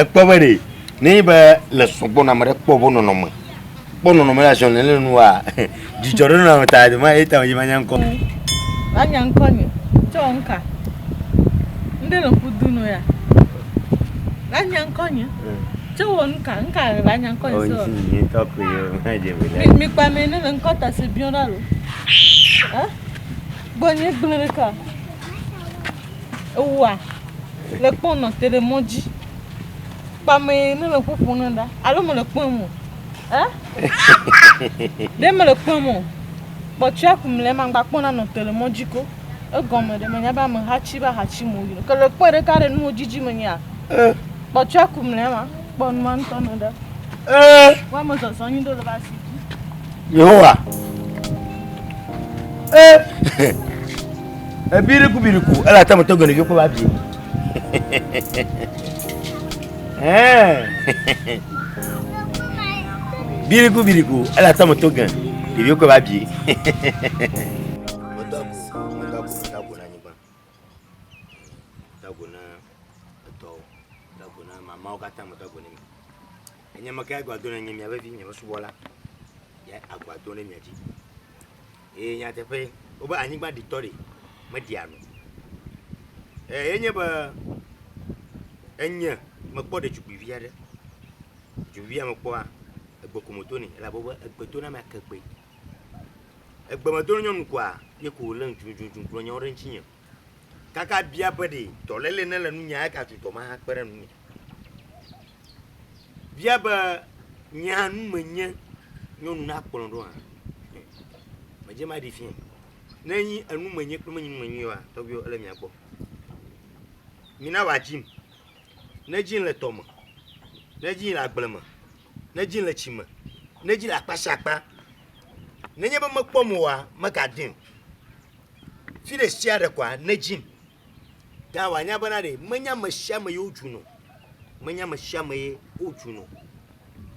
Ekpɔ be ɖe ne be le sɔgbɔ na me ɖe kpɔ bo nɔnɔme kpɔ nɔnɔme la ziɔ ne le nua Dzidzɔ ɖo nɔ ta do ma eta yi manya ŋkɔ. Wa nya ŋkɔ nye tsɔ nka. Nde le kudu no ya. La nya ŋkɔ nye. Tsɔ wo nka nka la nya ŋkɔ nye. Oh, ni ni to ko yo ma je bi la. Mi pa me ne le ŋkɔ ta se bion da lo. Eh? Gbo nye gble le ka. Ewa. Le kpɔn no te de moji. Pa me ne le kuku no da. Alo mo le kpɔn mo. Eh? ɖe mele kpɔm o. Kpɔtsia ku mle ma gba kpɔna nɔ tele mɔ dzi ko. Egɔme ɖe menya be ame hatsi be ahatsi mo yi. Ke le kpɔ ɖeka ɖe nuwo dzidzi me nyea. Eh. Kpɔtsia ku mle ma kpɔ numa ŋutɔ nɔ ɖe. Eh. Wa me zɔzɔ nyi do le ba si. Yehowa. Eh. Ebiriku biriku, ela tamo to gele yo ko ba bi. biriku biriku ele atɔ me to gɛ ɖeviwo kɔ va bie mamawo katã me do agbo ne mi enye me ke agbo do ne nye mia vevi nye subɔla ya agbo do ne mia dzi Eye nyateƒee, wobe anyigba ɖitɔ ɖi meɖia nu o. Eye nye be enye mekpɔ ɖetugbuivi aɖe. Ɖetugbuivia mekpɔa, egbe ko me to nɛ elabe wobe egbe to na ame ake gbe. Egbe me to na nyɔnu koa, ye ko wòlé ŋudzudzu kplɔ nyawo ɖe ŋutinye. kaka bia be ɖe dɔléle nele nunye eye gatu dɔ ma hakpe ɖe nunye. Bia be nye hã nu menye nyɔnu na kplɔ ɖo hã. Medze ma ɖi fia. Ne nyi enu menye kple menyi nu menye wa tɔgbiwo ele mia gbɔ. Mina wa dzim. Ne dzim le tɔ me. Ne dzim le agble me. Ne dzim le tsi me. Ne dzim le akpa sia akpa. Ne nye be mekpɔ mo wa meka dim. Fi ɖe sia ɖe koa nedzim. Ta wòanya bena ɖe menye ame sia ame ye wodzun o. Menye ame sia ame ye wodzun o.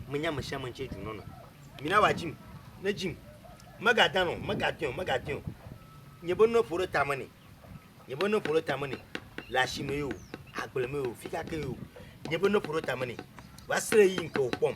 Menye ame sia ame ŋutsie dzun nɔnɔ. Mina wòadzim, nedzim. Megadan o, megadɔe o, megadɔe o. Nye be nuwo ƒo ɖe tame nɛ. Nye be nuwo ƒo ɖe tame nɛ. Le asime ye o, agble me ye o, fi ka ke ye o. Nye be nuwo ƒo ɖe tame nɛ. Va se ɖe ɣeyiɣi yi ke wòkpɔm.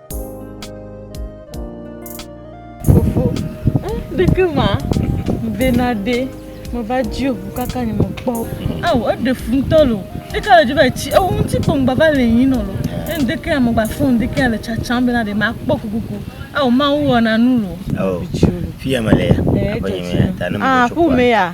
Fofo, eh, ɖeke ma, vena ɖe, meva dzi o, kaka nye me kpɔ. Ao, eɖe fu ŋutɔ lo, ɖeke le dzi va etsi, ewo ŋuti kpɔ ŋgba va le yin lo, eh, ɖeke ya megba fɔ ŋu, ɖeke ya le tsatsam bena ɖe ma kpɔ kukuku, ao, ma wo wɔna nu lo. Ao, fi ya me le ya, eh, aƒe nye me ya, ta ne me ah, tso kua. Ah, ƒome ya.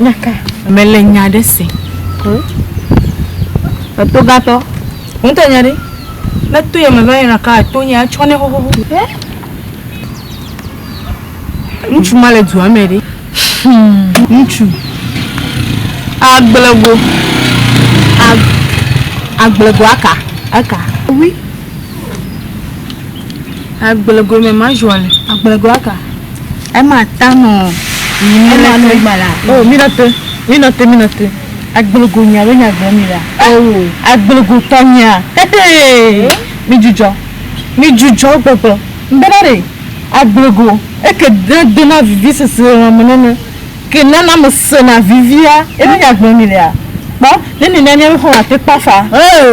Nyaka. Mele nya ɖe se. Hm? Etogatɔ. Ŋutɔ nya ɖe. Ne to yame va yina ka to nya tsɔ ne xoxoxo. Ŋutsu ma le dua me ɖe. Hmm. Ŋutsu. Agblego. Agblego aka. Aka. Oui. Agblegɔe me ma zua le. Agblegɔa ka? Ema ta nɔ. Ema nɔ gbala. Oh, mi na te, mi na te, mi na te. Agblegɔ nya be nya gblɔ mi la. Oh, agblegɔ tɔ nya. Hehe. Mi jujɔ, mi jujɔ gbɔgbɔ. Mbena ɖe agblegɔ eke de dona vivi sese lɔ me nɔnɔ. Ke nana me sena vivia. Ebe nya gblɔ mi la. Kpɔ, ne mi na mi be xɔ ate kpafa.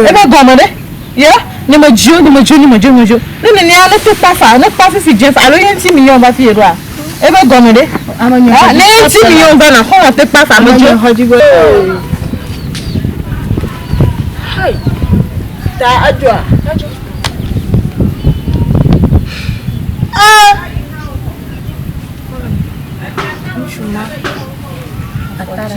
Ebe gɔme ɖe. Ye, nye me dzio, nye me dzio, nye me dzio, nye me dzio. Ne nenea, ne to kpa fa, ne kpa fifi dze fa, alo ye ŋuti mi yɔm va fi yeɖoa, ebe gɔme ɖe? Ah, ne ye ŋuti mi yɔm va na xɔlɔ te kpa fa, me dzio. Hai, ta adzɔa. Ah. Ŋutsu ma, atara.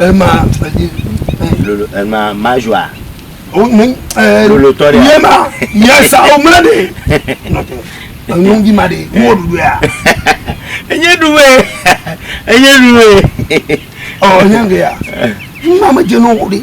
Ema fedi. Lolo ema majua. O oh, ne eh lolo tore. Yema yesa o mla de. Note. Enu di ma de. Wo dudu ya. Enye duwe. Enye duwe. Oh, enye ya. Mama jeno wo de.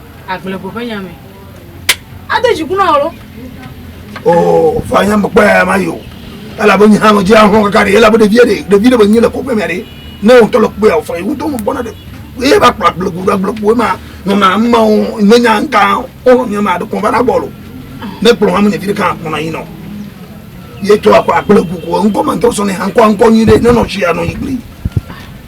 Agblego ƒe nya me. Ade dziku na alo. O oh, fa nya me kpɔ ya ma yo. Ela bo nya no jia ho kakari ela bo de vie de de vie de bo nyile ko pe me re. Ne on tolo kpo ya o fa yo to mo bona de. E ba kpla agblego da agblego ma no na ma o ne nya nka o nya ma de ko ba na bolo. Ne kplo ma mo ne vi de kan ko na yin no. Ye to akwa agblego ko nko man to so ne han ko nko yin de ne no jia no igli.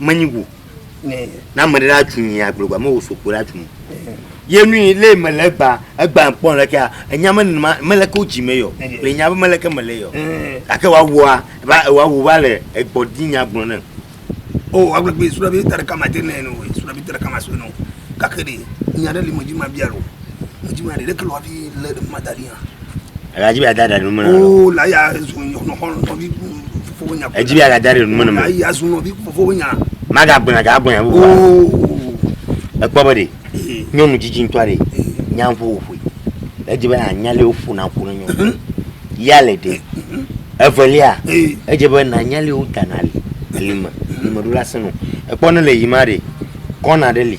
Menyi go. Na ame ɖe atu nyi agblɔ gba me wo sokpo ɖe atu mo. Ye nu yi le me le gba egba kpɔ le kea enya me numa me le ko dzi me yo. Le nya me le ke me le yo. Ake wa wa va wa wo va le egbɔ di nya gblɔ ne. O wa gbe gbe sura bi tare kama te ne no sura bi tare kama so no. Kake de nya le mo dzi ma bialo. Mo dzi ma le ke lo abi le ma da Edzi be ada ɖe nume na wo. Oo la ya zu nɔxɔ nɔvi fofowo nya. Edzi be ada ɖe nume na me. Ya zu nɔvi fofowo nya. Maga gbɔna ga gbɔna bu. Oo. Ekpɔ be de. Nyɔnu dzidzi ŋutɔ aɖe. Nya ŋu woƒoe. Edzi be anya le woƒo na ƒo na nyɔnu. Mhm. Ya le de. Mhm. Evelia. Edzi be na nya le wo dana le. Lime. Mhm. Lime ɖo la senu. Ekpɔ ne le yi ma de. Kɔna ɖe li.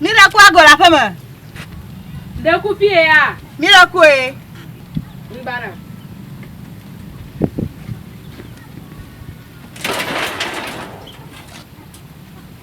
Mi ɖe ku agɔ le aƒe me. Ɖe ku fie ya. Mi ɖe ku ye. Mbana.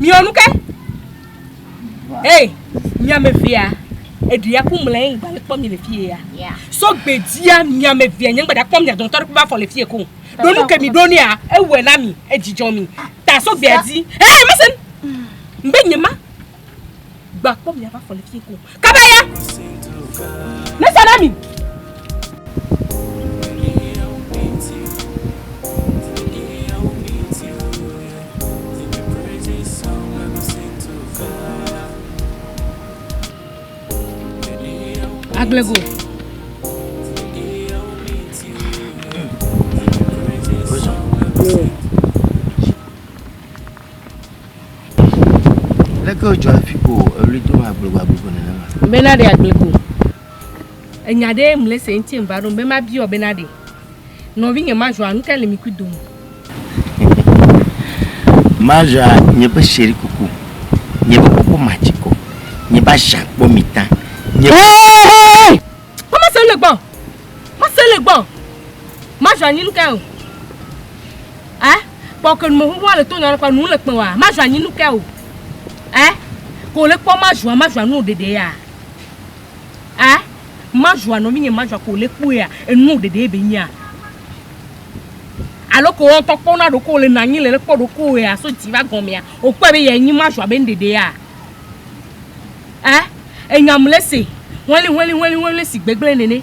Miɔ nu ke. Hey, miame vea, eɖi ya ku mlɛ ŋgba le kpɔ mi le fie ya. Yeah. So gbedzia miame vea nye ŋgba da kpɔ mi adɔn tɔɖe kpe afɔ le fie ko. Do nu ke mi do ne ya, ewɛ na mi, edzidjɔ mi. Ta so gbea di. Hey, listen. Mbe nye ma. Gbakpɔ miaƒe afɔ le fie ko. Kaba ya. Nesa na mi. Agblego. Prison. Leke wodzɔ hafi ko eɣli dom agblegbagbegbe nenema? Be naɖe agble ko. Enya ɖe mle se ŋuti va ɖom be mabiɔ be naɖe. Nɔvinye Major, nu kae le mi kui dome? Major, nye ƒe chéri kuku, nye ƒe kuku matsi kɔ, nye ƒe asia kpɔ mi ta, nye ƒe... Kpɔ mase le gbɔ, mase le gbɔ. Major, nyi nu kae o? Eh? Kpɔ ke nume xoxoa le to nɔna kpɔ nu le kpɔ wa ma zua nyi nu ke o. Ɛ ko le kpɔ ma zua ma zua nu ɖeɖe ya. Ɛ ma zua nɔ mi nye ma zua ko le kpɔ ya enu ɖeɖe be nya. Alo ko ɔtɔ kpɔ na ɖoko le na nyi le le kpɔ ɖoko ya so dzi va gɔmea o kpɔ be ya nyi ma zua be ɖeɖe ya. Ɛ enyam le se hɔli hɔli hɔli hɔli si gbegble nene.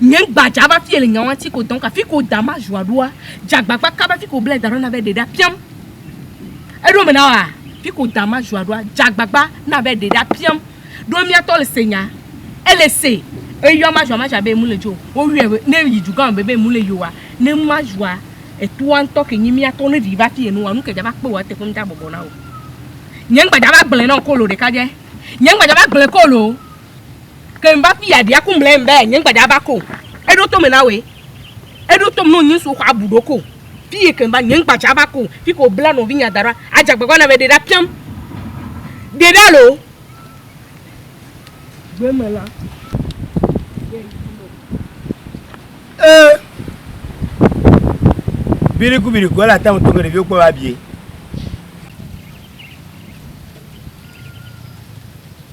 Nye gbadza va fie le nya ŋati ko dɔnka fi ko da ma zua ɖoa dza agbagba kaba fi ko blɛ da ɖo na be ɖe ɖa piam eɖo me na wa fi ko da ma zua ɖoa dza agbagba na be ɖe ɖa piam ɖo mia tɔ le se nya ele se eyɔa ma zua ma zua be emu le dzi o wo yɔɛ be ne yi dugã me be emu le yi oa ne ma zua etoa ŋtɔ ke nyi mia tɔ ne vi va fi enu wa nuke dza va kpewoa ete ƒe ŋda bɔbɔ na wo nye gbadza va gblɛ nao kolo ɖeka dje nye gbadza va gblɛ kolo. Ke ŋva fi ya ɖia ku mlɛ ŋ be nye ŋgba dza va ko. Eɖo to me na woe. Eɖo tom no nyi ŋsu xɔ abu ɖo ko. Fi yi ke ŋva nye ŋgba dza va ko. Fi ke wo bla nɔvi nya daɖoa adze agbagba na be ɖe ɖa piam. Ɖe ɖa lo. Gbe me la. Ee. Biri ku biri ku ele ate ŋu to me ɖeviwo kpɔ va bie.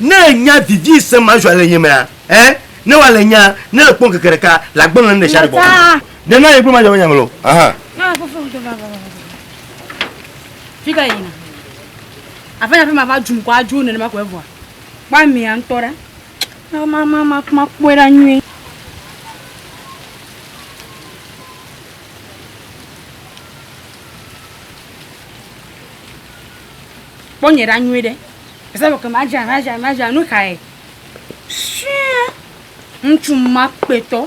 Ne ènya vivi se ma zua le nye mea, ẽ, ne wa le nya, ne èkpɔ ŋkeke ɖeka le agbɔnɔ ne ɖesia ɖe gbɔ ko. Ɖe na ye kple madzɔ be nya ŋlɔ. Aha. Na fofom to va va va va. Fi ka yina? Aƒe na aƒe ma va dzum ko adzo ne ma ko evɔa. Kpɔ amia ŋutɔ ɖa. Na ma ma ma ma kpɔe ɖa nyuie. Kpɔ nye ɖa nyuie ɖe. Ese be ke madzra madzra madzra nu kae sue ŋutsu ma kpetɔ.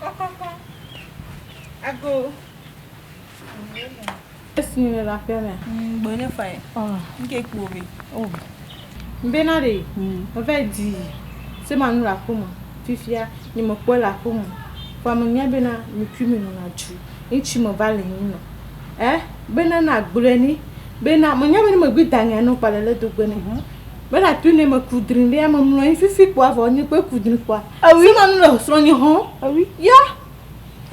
Kɔkɔkɔ. Ago. Esi le la ƒe me. Gbɔ ne fa ye. Ɔ. Nke kpo be. O. Mbe na de. Eva di. Se ma nu la ƒo me. Fifia ni me kpɔ la ƒo me. Fa me nya be na mi tu mi nu na ju. Nchi me va le hin no. Eh be na na gble ni. Be na me nya be ni me gbe da nya no pa le le do gbe ne. Mela tu ne me ku drin ɖe ame mlɔ anyi fifi kpɔa vɔ nye kpe ku drin kpɔa. Ewi ma nu le srɔ̃ nye hɔn. Ewi. Ya.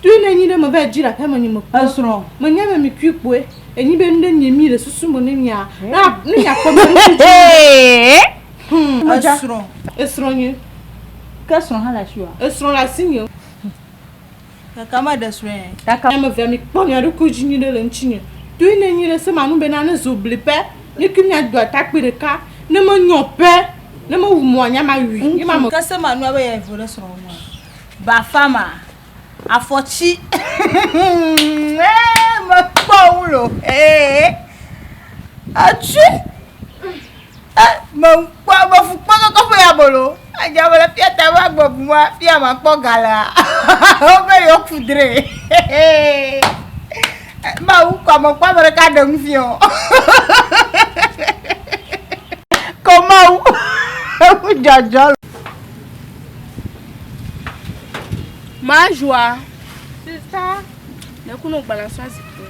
Tu ne nyi ɖe me va dzi la ƒe me nye me. Esrɔ̃. Me nye me mi kui kpɔe. Enyi be nu ɖe nye mi le susu me ne mia. Na ne mia kpɔ me ɖe dzi. Hmm. Esrɔ̃. Esrɔ̃ nye. Ke esrɔ̃ hã le asi wa. Esrɔ̃ le asi nye. Kaka ma ɖe srɔe. Kaka ame vea mi kpɔ mia ɖokui dzi nyuiɖe le ŋuti nye. Toi ne nyuiɖe se ma nu be na ne zo bli pɛ. Nye kui mia do atakpui ɖeka. Ne me nyɔ pɛ. Ne me wu mɔa nya ma ui. Nye ma me. Ke se ma nua be ya evo ɖe srɔ wo ma. Bafa ma. Afɔtsi. Eee me kpɔ wu lo. Eee. Atsui. E, mekpɔa be fukpɔkɔkɔ ƒe abolo adze abe le fia ta be agbe bu ma fia makpɔ ga lea wobe yewoku dre mawu kɔ mekpɔ ame ɖeka ɖe nu fiɔ kɔ mawu eku dzɔdzɔ le mazua sista ne kuno gbana sɔn zikpui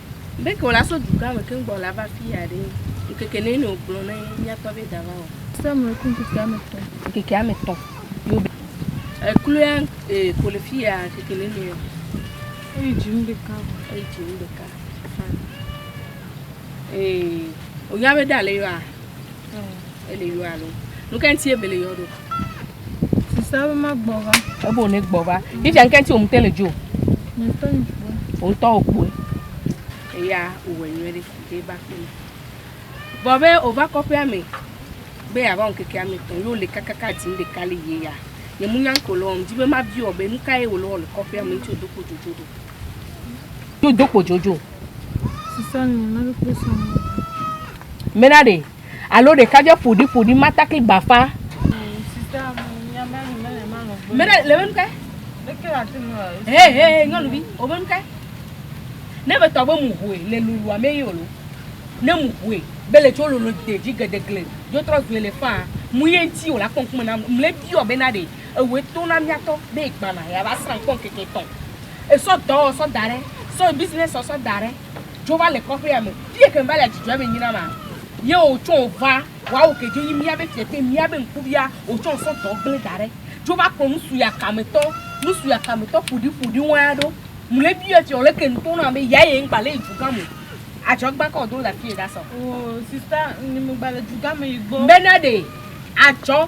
Be ke wòla so dugã me keŋ gbɔna va afiya ɖe, ŋkeke nɛ nɔ wògblɔ na ye míakpɔ be dava wɔ. Sɔ mlɔe ku ŋkeke ame tɔ̃. Ŋkeke ame tɔ̃ yo be. Ekloea e ko le fiya ŋkeke nɛ nɔ yɔ. Eyi dzi nu ɖeka vɔ. Eyi dzi nu ɖeka. Fine. E wònya be ɖe ale yɔa. Ele yɔ alo. Nu ke ŋuti ebe le yɔ ɖo. Sisa be magbɔ va. Ebe wòne gbɔ va. Yidza nu ke ŋuti wòmute le dzo. Ŋutɔ yi kpoe. Ŋutɔ wò kpoe. Eya wòwɔ nyuie ɖe ɖe va kpe me. Vɔ be wòva kɔƒea me be yeava ŋkeke ame etɔ̃ ye wòle kakaka dzi nu ɖeka le yie ya. Nye mu nya ŋkɔ le wɔm. Di be mabiɔ be nu kae wòle wɔ le kɔƒea me ŋuti wòdo kpo dzodzo ɖo. Do do kpo jojo. Sisanu na kpekpe sɔn. Mena de. Alo de kaje podi podi mata kli bafa. Sisa mu ya mena ni mena ma lo. Mena le menu ke. Le ke la tinu. He he nyɔnu bi. O menu ke. Ne be tɔ be mu hoe le lulu ame yi olo. Ne mu hoe be le tso lolo de ji gedegle. Jo trɔ zue le fa. Mu ye nti o la kpɔn kuma na mle bi o bena de. Ewɔe to na miatɔ be egbana ya va srã kpɔ ŋkeke etɔn. Esɔ dɔ wɔ sɔ daɖe, sɔ yi business wɔ sɔ daɖe. Dzo va le kɔƒe ya me. Fie ke ŋva le adzudzɔ ebe nyina ma. Ye wo tsɔ wo va wa wo ke dzo nyi mia be fie te mia be ŋkuvia wo tsɔ sɔ dɔ gble daɖe. Dzo va kpɔ nusu ya kame tɔ, nusu ya kame tɔ ƒoɖi ƒoɖi ŋua ɖo. Mle bi ya tse ole ke ŋtɔ na be ya ye ŋgba le yi dzu gã mo. Adzɔ gba kɔ do la fie da sɔ. Oh sister ni mgba le dzu gã me yi gbɔ. Mbe na ɖe adzɔ.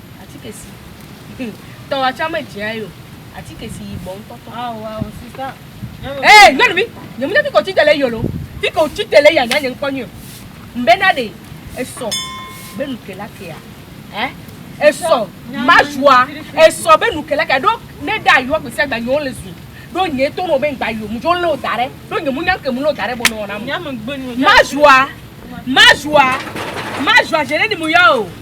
Atike si Hum, tɔ wa tsa me dzea yo Atike si yi bɔ ŋtɔ tɔ Ao ao sista Nyɔnuvi Ee, ɖe nyɔnuvi Nye mu ne fi ke o tsi te le yolo Fi ke o tsi te le ya nya nye ŋkpɔ nyuio Ŋbe na ɖe esɔ be nu ke la kea Eh, esɔ ma zua Esɔ be nu ke la kea Ɖo ne ɖa yoa gbe sia gba nye o le zu Ɖo nye to nɔ be ŋgba yo Mu dzo leo da ɖe Ɖo nye mu nya ŋke mu leo da ɖe Bɔ nɔ wɔna mu Ma zua, ma zua, ma zua Ʒe ne ni mu ya o.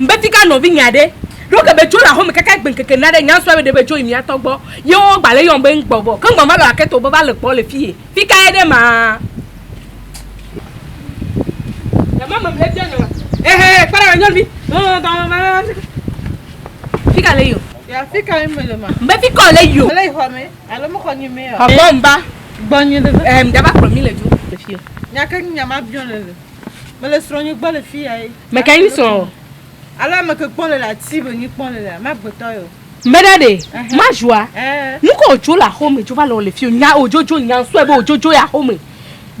Mbetika nɔvinyɛ aɖe ɖo ke be dzo le axome kaka egbe ŋkeke na ɖe nyansua be ɖe be dzo yi mia tɔ gbɔ ye wo gba le yɔm be ŋ gbɔ vɔ ke ŋ gba va lɔ ake to be va le gbɔ le fiye fi ka ye ɖe maa Dama me mle fia nɔ ehe kpe ɖe nyɔnu bi fi ka le yɔ ya fi ka me le ma mbe fi ka le yɔ le yi xɔ me alo me xɔ nyi me yɔ xɔ gbɔ mba gbɔ nyi le ehe mda va kplɔ mi le dzo le fiye nyake nyi nyama biɔ le le Mele srɔ̃ nyi gbɔ le fi ya ye. Me ka nyi srɔ̃ o. Alo ame ke kpɔ le la ti be nyi kpɔ le la ma gbetɔ yo. Me ɖa ɖe ma zua. Nuke o jo le axo me jo va le o le fi o nya o jo jo nya ŋ sɔe be o jo jo yi axo me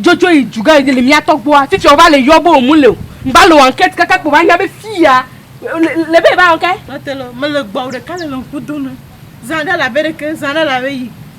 jo jo yi juga yi le mi atɔ gbɔa fifia o va le yɔ be o mu le o ŋ va le o ankɛti kaka kpo va nya be fi ya le be e va ɔ ke. Mete le o mele gbɔ o ɖeka le le ŋku do me zã ɖe la be ɖeke zã ɖe la be yi.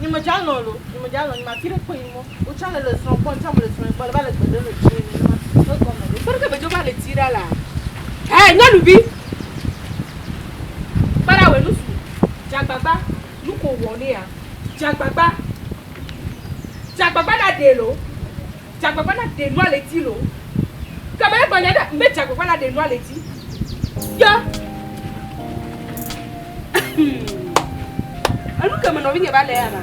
Nye me dza lɔn lo, nye me dza lɔn, nye me afi ɖe kpe yi mɔ, wo tsã le le srɔn gbɔ, ŋtsã me le srɔn gbɔ, le va le gbe ɖem le tsiɛ nɛ nɛma, e gɔme ɖe. Kpeɖe ke be dzo va le tsi ɖa la. Hɛ, nyɔnuvi! Kpeɖa wɛ nusu, dze agbagba, nu ko wɔ nɛa, dze agbagba, dze agbagba na ɖɛ lo. Dzagbagba la ɖe nua le edzi loo. Ke be egblɔ nya ɖe be dzagbagba la ɖe nua le edzi. Ke enu ke me nɔvinye va le ana.